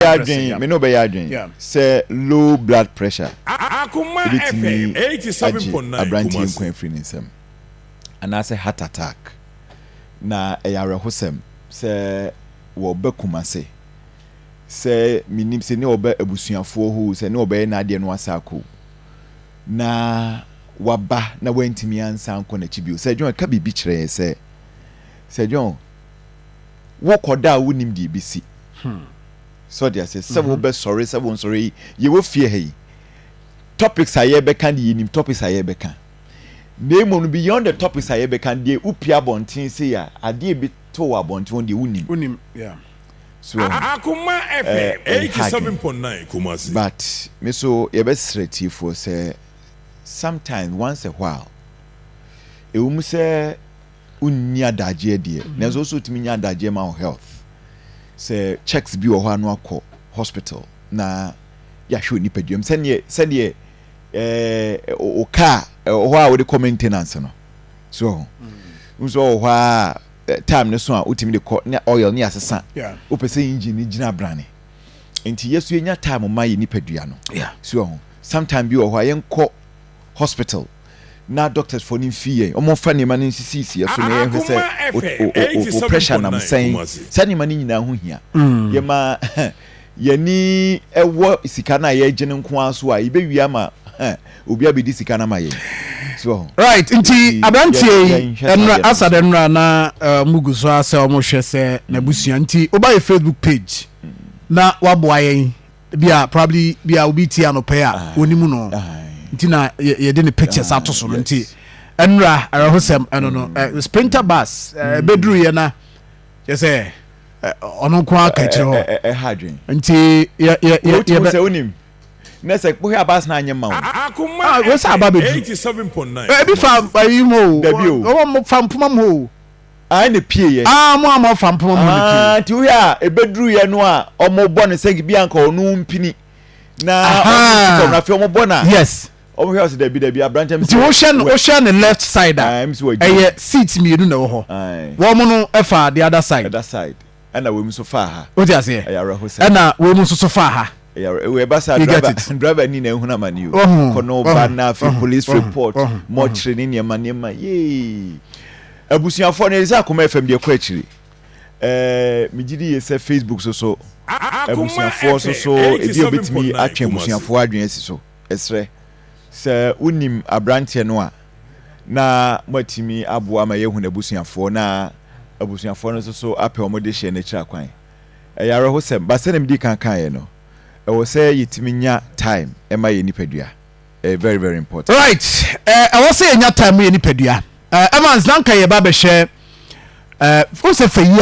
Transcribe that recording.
bɛyɛ adwene me ne wo bɛyɛ adwene sɛ low blood pressure ebetumi agye aberanteɛ nkwa afiri ne nsam anaasɛ heart attack na ɛyɛ awerɛhosɛm sɛ wɔba Kumase sɛ menim sɛ ne wɔba abusuafoɔ hoo sɛ ne wɔbɛyɛ n'adeɛ no asako na waba na wantumi ansa nkɔ n'akyi bio sɛ John ɛka biribi kyerɛ yɛ sɛ sɛ John wokɔ da a wonnim deɛ ɛbɛsi. So ɔde aseɛ sɛ wobɛsɔre sɛ wonsɔre yi yɛwɔ fie ha yi topics a yɛbɛka de yɛnim topics a yɛbɛka na mmom no beyond the topics a yɛbɛka deɛ wopie abɔnten sei a adeɛ ɛbi to wɔ abɔnten wɔn deɛ wonim. Wonim, yeah. So ɛho Akoma FM eh, eh, eighty hard seven point nine Kumasi. but me so yɛbɛsrɛ tiefoɔ sɛ sometimes once a while ɛwɔ mu sɛ wonni adagyeɛ deɛ nanso wosɛ wotumi nya adagyeɛ ma wo health sɛ checks bi wɔ hɔ a no akɔ hospital na yɛahwɛ onipaduam sɛdeɛ sɛdeɛ ɛɛ o car ɛwɔ hɔ a wode kɔ maintenance no so wɔ ho nso wɔ hɔ a time no so a wotumi de kɔ ne oil ne asesa wopɛ sɛ engine no gyina brane nti yɛso yɛnya time ma yɛ nipadua no so wɔ ho sometime bi wɔ hɔ a yɛnkɔ hospital na doctors foɔ no mfii yɛn ɔmo mfa nneɛma no nsisi siɛ so na yɛn hwɛ sɛ o o pressure nam sɛn saa nneɛma no nyinaa ho hia yɛ ma yɛni ɛwɔ sika no a yɛgye no nko ara so a yɛbɛ wie ama obi abɛdi sika no ama yɛn so ɔho. Right nti aberanteɛ yi ɛnura asad ɛnura na ɔmo eh, gu so asɛ ɔmo hwɛ sɛ n'abusua nti ɔba yɛ Facebook page na waboa yɛn. Ebi a probably bi a obi tie anɔpɛ a onim no nti na yɛde ne pictures ato so no nti ɛnura ɛrɛhosɛm ɛno no mm. sprinter bus ɛbɛduru yɛ na yɛ sɛ ɔno nko aka akyerɛ hɔ ɛha adwen nti yɛ yɛ yɛ yɛ bɛ sɛ onim na sɛ kpɔhɛ abas na anyɛ ma wo ah, wɔ sɛ aba bɛduru ebi fa ayi mu o wɔn fa mpoma mu o. Ae na epieeɛ. Aa mo a mo afa mpoma mu no pie. Aa nti wohwɛ a ebeduruiɛ no a ɔmo bɔ no sɛ bi a nka ɔno mpini na ɔmo si fam no afei ɔmo bɔ no a. Yes. Ɔmo hwɛ ɔsɛ dabi dabi aberanteɛ mi sɛ. Nti wohwɛ no wohwɛ ne left side a ɛyɛ seat mmienu na ɛwɔ hɔ. Wɔn no ɛfa the other side. Ɛda side. Ɛna wei mu nso faa ha. Wote aseɛ? Ɛyɛ awerɛhosɛm. Ɛna wei mu nso so faa ha. Ɛyɛ awerɛ wei ɛba saa You get driver it? driver ni na ehunu amane o. Wahu, Kɔ na ɔba wahu, na afei wahu, police wahu, report, wahu, wahu. mortuary ne nneɛma nneɛma yee. Abusuafoɔ no ɛyɛ sɛ akoma FM deɛ kɔ akyiri. Ɛɛ megye di yɛ sɛ Facebook so so A- Akoma abusuafoɔ so FM so ebi a obetumi 87.9 atwe Kumasi. abusuafoɔ adwene asi so. Yɛsrɛ, sɛ wonim aberanteɛ no a, na moatumi aboa ma yɛahu n'abusuafoɔ na abusuafoɔ no nso so apɛ wɔn dehyeɛ no akyiri akwan. Ɛyɛ awerɛhosɛm, but sɛdeɛ medii kan kaeɛ no, ɛwɔ sɛ yɛtumi nya time ma yɛn nipadua. Ɛyɛ very very important. Right, ɛwɔ sɛ yɛnya time ma yɛn nipadua. Evans, na anka yɛreba abɛhwɛ, wohu sɛ Fayie